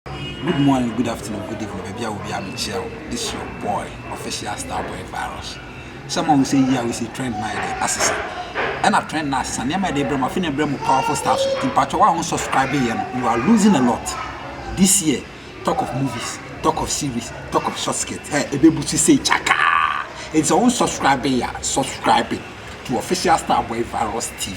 Good morning, good afternoon, good evening, baabi a obi a mekyia wo. This your boy, official star boy virus. Sɛ ma wo sɛ yi a wo sɛ trend na yɛde asesa. Ɛna trend na asesa, nneɛma yɛde brɛ mu, afei na ɛbrɛ mu powerful stars. Nti mpakyɛ wo a wo subscribe yɛ no, you are losing a lot. This year, talk of movies, talk of series, talk of short skirt, hey, ɛbɛbu so sɛ kyakaa. Nti sɛ wo subscribe yɛ a, subscribe to official star boy virus TV.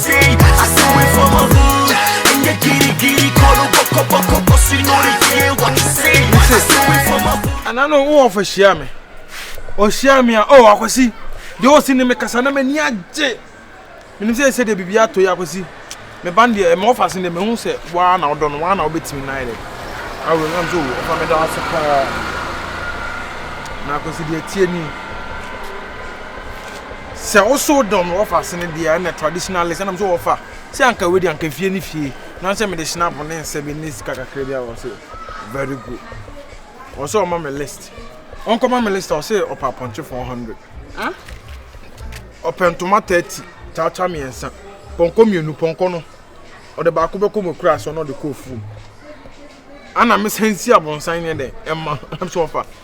Ana no wo ofa hyia me. O hyia me a o akwasi. De o si ne me kasa na m'ani agye. Menim sɛ sɛ de bibi ato ya akwasi. Me ban de me ofa sin de me hu sɛ wa na odɔ no wa na obetimi na yɛ. Awo na so wo fa me da ase pa. Na akwasi de tie ni. sɛ wo so dɔm no wɔfa ase no deɛ a ɛna traditionalist ɛna mso wɔfa sɛ anka wei deɛ anka fie ne fie nansɛ mede snap ne nsɛ bi ne sika kakra bi a wɔ sɛ very good wɔ sɛ ɔma me list ɔnkɔma me list a wɔ sɛ ɔpɛ apɔnkye 400 ɔpɛ ntoma 30 kyakya mmiɛnsa pɔnkɔ mmienu pɔnkɔ no ɔde baako bɛkɔ mu kura so na ɔde kɔ fuom ana mesan si abonsan ne dɛ ɛma ɛm sɛ ɔfa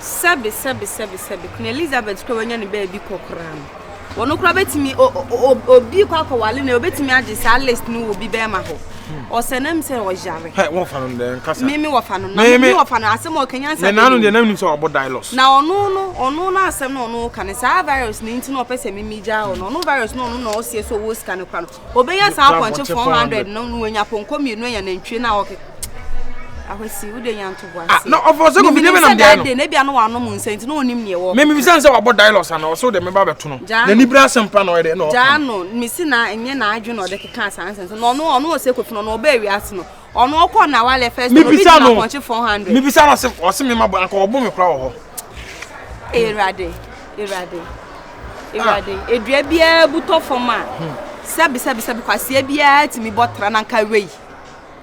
Sɛbe, sɛbe, sɛbe, sɛbe, Queen Elizabeth koraa wanya ne baabi kɔ koraa no, wɔn koraa bɛtumi obi kɔ akɔwale no, obɛtumi agye saa list no wɔ bi bɛrima hɔ. Ɔsɛ nam sɛ ɔyare. Hɛ, wɔfa no dɛ nkasa. Me me wɔfa no, na me wɔfa no asɛm a ɔkanya nsa. Me nanu deɛ nam nim sɛ ɔbɔ dialos. Na ɔno no, ɔno no asɛm na ɔno ka no saa virus no nti na ɔpɛ sɛ mimi gyaa ɔno. Ɔno virus no ɔno na ɔseɛ sɛ ɔwɔ sika no koraa no. Obenya saa apɔnkye 400 no na wanya pɔnkɔ mmienu anya nantwie no a ɔke ahwɛsi wode nya ntoboase ah, na ɔfɔ sɛ kɔfidie bɛ nam deɛ no na ebia no wanom nsa nti na ɔnim neɛ wɔ meme bisa sɛ wabɔ dilos ana ɔsɛ wode meba bɛto no na nibira asɛm pa na ɔyɛ dɛ na ɔka gyaa no mesi na ɛnyɛ n'adwe na ɔde keka saa nsɛm so na ɔno ɔno ɔsɛ kɔfi no na ɔbɛ awiase no ɔno ɔkɔ na wa lɛ fɛs no obi gyina pɔnkye four hundred. mi bisa no ɔsi ɔsi mi ma bɔ anka ɔbɔ mi kura wɔ hɔ. ewurade ewurade ewurade ah. edua biara butɔ fam a hmm. sɛbi sɛbi sɛbi kwasia biara tumi bɔ tra na nka wei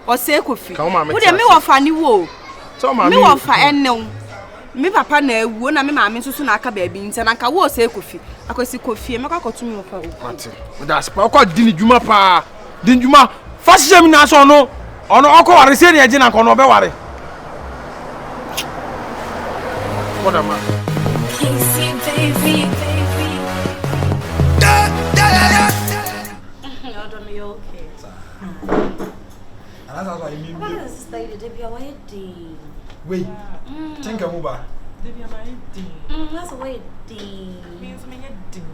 ɔsɛ kofi wo deɛ mi wɔ fa ne wo mi wɔ fa ɛnɛw mi papa na ewu na mi maame nso so na aka baabi nti na nka wo ɔsɛ kofi akwasi kofi mɛkɔ akɔtum wɔ fa o. ɔkɔ di ne dwuma paa. Di ndwuma fa hyehyɛ mu nyinaa sɛ ɔno ɔno ɔkɔ ware sei na ɛgye na nka ɔno ɔbɛ ware. Wei, tinka mu ba. Means me yɛ ding.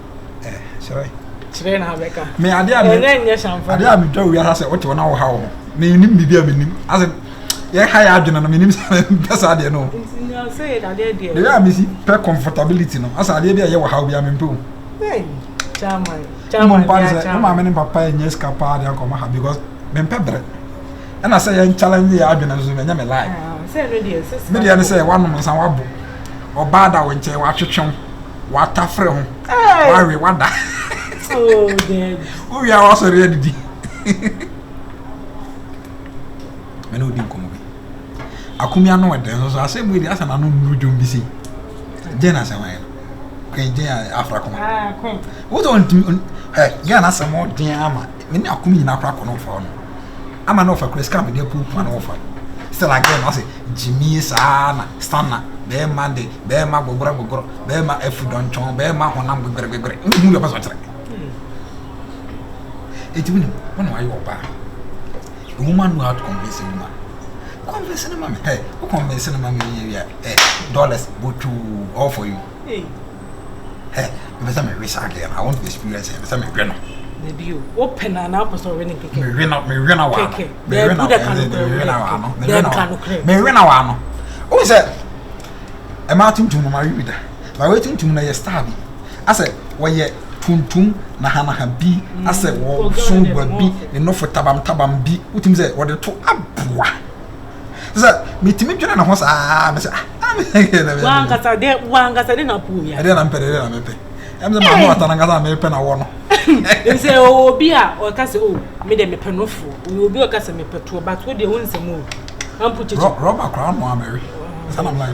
eh, kyerɛ kyerɛ na abɛka me adeɛ a ɛnyɛ nyɛ hyɛnfa adeɛ a metwa owi asa sɛ wote wo na woha wo ho menim biribi a menim asɛ yɛha yɛ adwene no menim sɛ mpɛ saa adeɛ no deɛ a mesi pɛ comfortability no asɛ adeɛ bi a ɛyɛ wɔ haw bi a mempɛ o mompade sɛ mo maame ne papa ɛnyɛ sika paa de akɔma ha because mempɛ berɛ ɛna sɛ yɛn challenge yɛ adwene no so ɛnyɛ me lie ah, medeɛ ne sɛ woanom nsa woabo ɔbaa da wo nkyɛn woatwetwe wo watafere ho wawe wada oh, wowia wasɔre adidi mene wodi nkɔmmɔ bi akomi ano ɔdɛn so so asɛm mu di asɛ n'ano nnuru dwom bi sei dɛn asɛm ayɛ no kwan gyɛn afra kɔma wotɔ ntumi ɛ ghana asɛm ɔden ama me ne akoma nyinaa koraa kɔ no wɔfa hɔ no ama na wɔfa kura sika mede apu mpoa no wɔfa still again ɔsɛ gyimie saa na sana bɛrima de bɛrima gogorɔ gogorɔ bɛrima afu dɔntwɔn bɛrima honam gogorɛgogorɛ wohu yɛ ɔpɛ sɛ ɔkyerɛ ɛti wonim wo na wayɛ ɔbaa a woman know how to convince a woman convince no ma me hey, wo convince no ma me yɛ dollars botoo all for you hey. Mepɛ sɛ mewe saa girl no. I want to experience her. Mepɛ sɛ mewe no. Na bio, wopɛ no anaa wopɛ sɛ ɔwe no nkekɛ? Mewe no, mewe no wɔ ano. Mewe no, mewe no wɔ ano. Mewe no wɔ ano. Mewe no wɔ ano. Wohu sɛ, mmaa tuntum no, mawe bi da. Na wei tuntum no yɛ star bi. Asɛ, wɔyɛ tuntum nahanaha bi. Mm. Asɛ, wɔso gua bi, ne nofo tabam tabam bi. Wotumi sɛ, wɔde to aboa. sɛ metumi dwene ne ho saa me sɛ ah, wankasa dɛ wankasa dɛ na po wia ɛdɛ na mpɛ dɛ na mepɛ ɛm sɛ maame wata na nkasa mepɛ na wɔ no nsɛ ɔwɔ obi a ɔka sɛ o oh, me dɛ mepɛ no fo ɔwɔ obi a ɔka sɛ mepɛ toɔ but wo deɛ wo nsɛm o ampo kyekye rɔba koraa no amɛwe sɛ na mlayɛ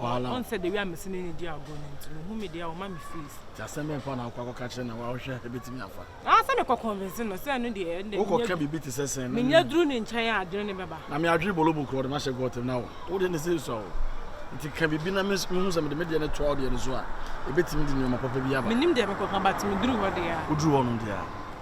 Wahala. Ɔn sɛ the way a mese ne ne di agorɔ no nti mehu me deɛ ɔma me fees. Nti asɛm bɛn fa na wokɔ akɔka kyerɛ na wohwɛ ɛbɛtumi afa? Ah sɛ mekɔ convince no sɛ ɛno deɛ ɛnde Wokɔ ka biribi te sɛ sɛn? Menya duru ne nkyɛn a adwene ne bɛba. Na me adwene bolobo korɔ de mahyɛ gɔɔtɛm na wo wo deɛ ne sɛ sua wo. Nti ka biribi na me mehu sɛ mede me deɛ no toa wo deɛ no so a ɛbɛtumi de nneɛma papa bi aba. Menim deɛ mekɔka but meduru hɔ deɛ a. Woduru hɔ nom deɛ a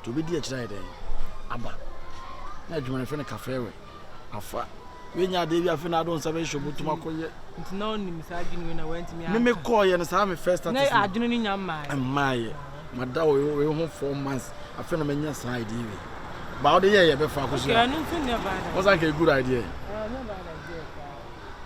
Nti obedi akyiri ayɛ dɛn aba. Na adwuma no yɛfrɛ no kafɛɛ wɛ. Afa wenya adeɛ bi afe na ado nsa bɛhyehyɛ obotum mm. akɔyɛ. Nti na ɔnim saa adwene wei na wantumi aka. Meme kɔɔyɛ no saa me first status. Na adwene no nya mmaayɛ. Mmaayɛ. Mada wei ho four months afe na manya saa idea wei. Ba wode yɛ yɛ bɛfa akɔsua. Okay, ɛno nso nyɛ bad idea. Wɔsan ka good idea. Ɛnyɛ bad idea.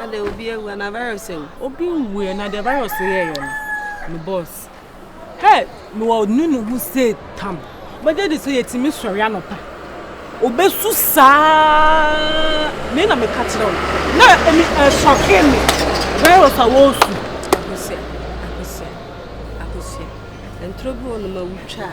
Ada obi awu ana virus awu. Obi nwu ɛ na deɛ virus yɛ yɛ no me boss. Hɛ me wɔ nu ne ho se tam. Bɛgye de sɛ yɛtumi sɔre anɔpa. Obesu saa me na meka kyerɛ wo. Na emi ɛsɔke me virus a wɔsu. Akosua akosua akosua. Ntoro bi wɔ no ma wutwa a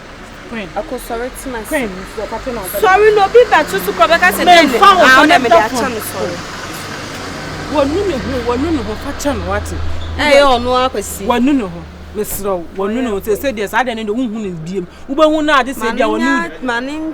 Sɔre na obi bɛto so kɔ bɛka sɛ dɛn na ah ɔna mede akyɛ no sɔre. Wɔnu ne ho wɔnu ne ho fa kyɛ no wate. Ɛyɛ ɔno akwasi. Wɔnu ne ho mesrɛ wo wɔnu ne ho sɛ sɛ deɛ saa deɛ no deɛ wohu no biem wobɛhu no ade sɛ deɛ wɔnu.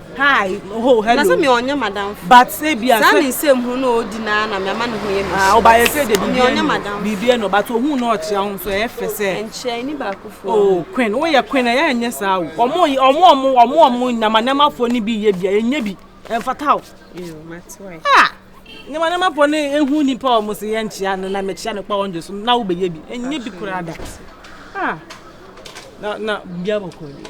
Hi, oh, hello. Na sɛ me ɔnyɛ madam. But say bia sɛ. Sɛ ne nsɛm hu no odi na na me ama ne ho yɛ me. Ah, oba yɛ sɛ de bibia. Ɔnyɛ madam. Bibia no, but ohun na ɔkyerɛ ho so ɛyɛ fɛ sɛ. Nkyerɛ ni ba kofo. Oh, queen, wo yɛ queen ɛyɛ nyɛ saa o. Ɔmo ɔmo ɔmo ɔmo ɔmo nyama nyama fo ni bi yɛ bia enye bi. Ɛmfata o. Yo, matiwa. Ah. Nyama nyama fo ni ehu ni pa ɔmo se yɛ nkyia no na me kyia no pa ɔnje so na wo be yɛ bi. Enye bi kura da. Ah. Na na bia bokɔ bi.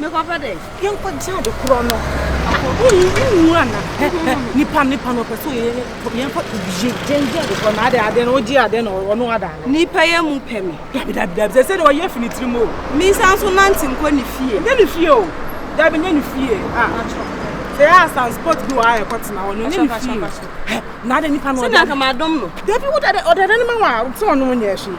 Mekɔpɛ dɛ. Yɛnkɔgye ade korɔ no. Wonwu ana? Nipa nipa na ɔpɛ sɛ ɔyɛ yɛmfa obie gyɛngye ade korɔ na ade ade na ɔgye ade na ɔno ada ade. Nipa yɛ mu pɛ me. Dabi dabi dabi sɛ sɛdeɛ ɔyɛ fi ne tirim o. Mensan nso nante nkɔ ne fie. Nyɛ ne fie o. Dabi nyɛ ne fie. Ah. Sɛ yɛ asan sport bi wɔ a ɛkɔ tena hɔ no nyɛ ne fie. Na ade nipa na ɔda. Sɛ nka madom no. Dabi wodade ɔdade no ma wa sɛ ɔno nyɛ hwee.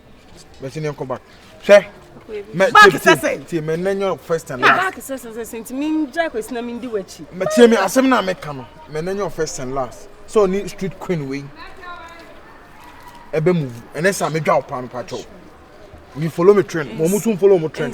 Bɛsi ne nkɔba. Hwɛ. Mɛ baaki sɛsɛ. Tie mɛ nɛ nyɛ first and last. Baaki sɛsɛ sɛsɛ nti mi n gya kwesi na mi n di w'akyi. Mɛ tie mi asɛm na mi ka no mɛ nɛ nyɛ first and last sɛ ɔni street queen wei ɛbɛ mu vu ɛnɛ sɛ mi dwa ɔpaa mi pa kyɛw mi follow mi trend mo mo tún follow mo trend.